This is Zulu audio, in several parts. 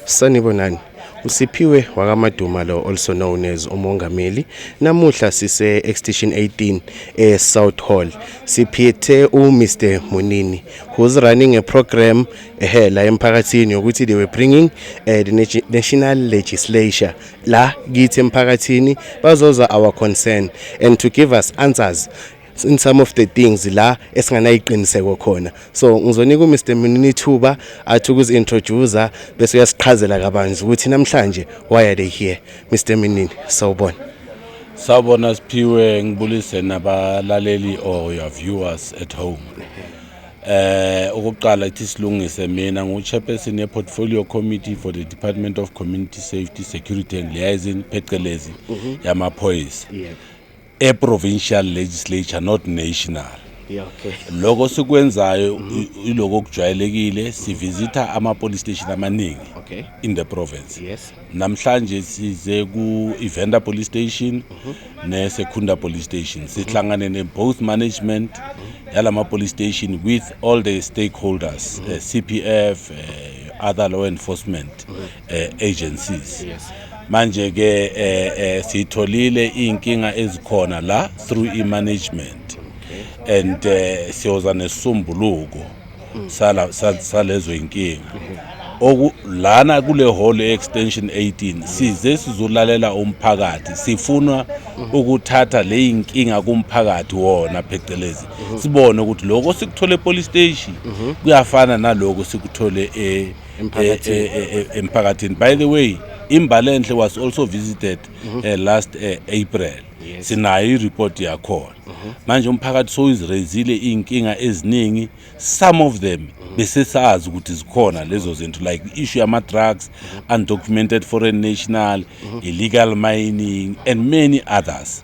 sanibonani usiphiwe wakamaduma lo also known as umongameli namuhla sise extension 18 e South Hall siphethe u Mr Munini who's running a program ehe la emphakathini ukuthi they were bringing uh, the national legislature la kithi emphakathini bazoza our concern and to give us answers in some of the things la esinganayiqiniseko khona so ngizonika uMr Munini ithuba athi ukuzintroduce bese uyasiqhazela kabanzi ukuthi namhlanje why are they here Mr Munini sawubona sawubona siphiwe ngibulise nabalaleli or your viewers at home eh ukuqala ithi silungise mina nguchairperson yeportfolio committee for the department of community safety security and liaison phecelezi mhm. yamaphoyisa yeah. a provincial legislature not national yeah, okay. loko sikwenzayo mm -hmm. iloko okujwayelekile sivisitha ama-police station amaningi okay. in the province yes. namhlanje size ku-ivenda police station mm -hmm. nesekhunda police station sihlangane mm -hmm. ne-both management mm -hmm. yala ma-police station with all the stakeholders mm -hmm. uh, eh, c p f uh, eh, other law enforcement mm -hmm. eh, agencies yes. manje ke eh, eh, sitholile inkinga ezikhona la through i management okay. and eh, siyoza nesumbuluko mm. sala salezo inkinga mm -hmm. oku lana kule hall extension 18 size sizolalela umphakathi sifuna ukuthatha leyinkinga kumphakathi wona phecelezi sibone ukuthi lokho sikuthole epolice station kuyafana naloko sikuthole e emphakathini by the way imbalenhle was also visited mhm. eh, last eh, april sinayo ireport yakhona mhm. manje umphakathi sowuzireyizile iy'nkinga eziningi some of them mhm. besesazi ukuthi zikhona lezo zinto like i-issue yama-drugs undocumented foreign national illegal mining and many others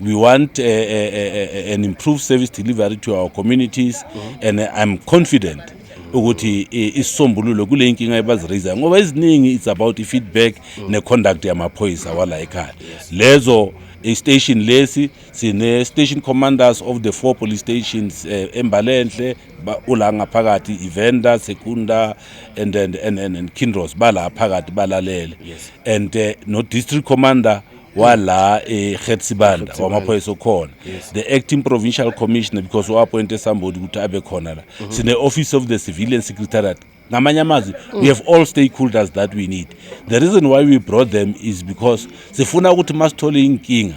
We want uh, uh, uh, an improved service delivery to our communities mm -hmm. and I'm confident ukuthi eh, isisombululo kule nkinga ebazirayisayo ngoba eziningi it's about i-feedback mm. ne-conduct yamaphoyisa wala ekhaya lezo istation eh, lesi sine station commanders of the four police stations uh, embalenhle ula ngaphakathi ivenda sekunda and and and, and, and kindros bala phakathi balalele yes. and uh, no district commander wala eGetsibanda eh, wamaphoyisa okhona the acting provincial commissioner because uappointe somebody ukuthi abe khona la mhm. sine office of the civilian secretariat ngamanye amazwi mm. we have all stakeholders that we need the reason why we brought them is because sifuna ukuthi masithole inkinga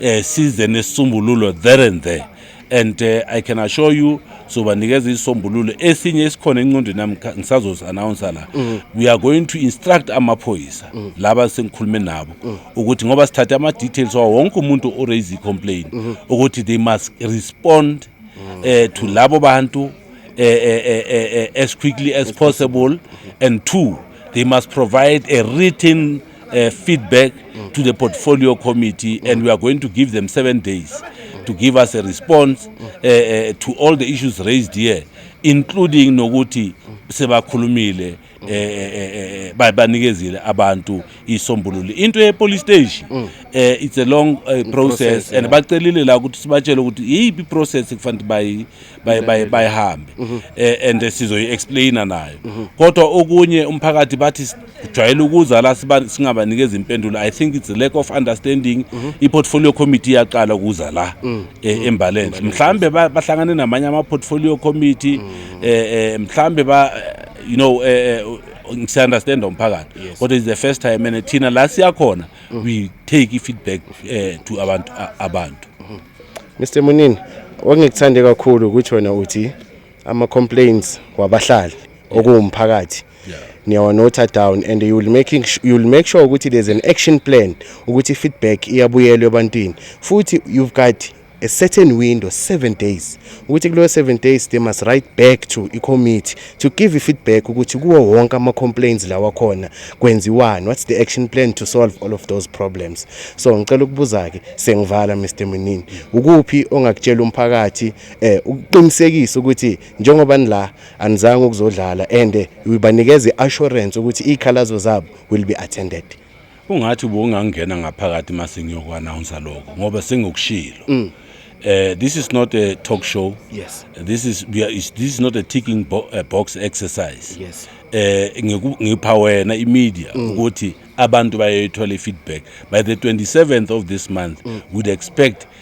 eh size nesisombululo there and there and uh, i can assure you sobanikeza isisombululo esinye esikhona encondweni nami ngisazozi-announsa la mm. we are going to instruct amaphoyisa mm. laba sengikhulume nabo mm. ukuthi ngoba sithathe ama-details wawo wonke umuntu oraise i-complain mm-hmm. ukuthi they must respond mm. eh, to labo bantu eh, eh, eh, as quickly as possible and two they must provide a written uh, feedback mm. to the portfolio committee mm. and we are going to give them seven days to give us a response mm. uh, uh, to all the issues raised here including nokuthi sebakhulumile mm. eh, eh, eh, eh babanikezile abantu isombululo into ye police station mm. eh it's a long uh, process, process and yeah. bacelile la ukuthi sibatshele ukuthi yipi process kufanele bayi bayi bayihambe mm -hmm. eh and sizoyi explainer nayo mm -hmm. kodwa okunye umphakathi bathi jwayele ukuza la singabanikeza impendulo i think it's a lack of understanding mm -hmm. i-portfolio committee iyaqala ukuza la mm. e, mm. embalenhle mhlawumbe bahlangane namanye ama-portfolio committee mm. e, e, mhlawumbe ba you know e, siyaunderstanda umphakathi kodwa is the first time and thina la siyakhona mm. we take i-feedback eh, to abantu abantu mr munini wangikuthande kakhulu ukuthi wena uthi ama complaints wabahlali okuwumphakathi niyawanotha down and you will making you will make sure ukuthi there's an action plan ukuthi feedback iyabuyelwa ebantwini futhi you've got a certain window 7 days ukuthi kulo 7 days they must write back to i committee to give feedback ukuthi kuwo wonke ama complaints lawa khona kwenziwani what's the action plan to solve all of those problems so ngicela ukubuza ke sengivala Mr Munini ukuphi ongakutshela umphakathi eh ukuqinisekisa ukuthi njengoba nila anizange ukuzodlala and uyibanikeza iassurance ukuthi izikhalazo zabo will be attended ungathi ubungangena ngaphakathi mase ngiyoku announce lokho ngoba sengikushilo mm. Uh, this is not a talk show. Yes. This is we are, is, this is not a ticking bo a box exercise. Yes. Eh ngipha wena imedia mm. ukuthi abantu bayayithola feedback by the 27th of this month mm. would expect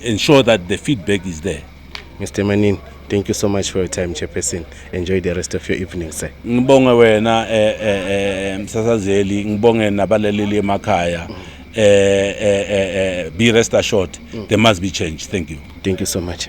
ensure that the feedback is there Mr. Manin, thank you so much for your time, Chairperson. Enjoy the rest of your evening, sir. Ngibonge wena eh eh, eh msasazeli, ngibonge nabalaleli emakhaya. Eh, eh eh eh be rest assured there must be change. Thank you. Thank you so much.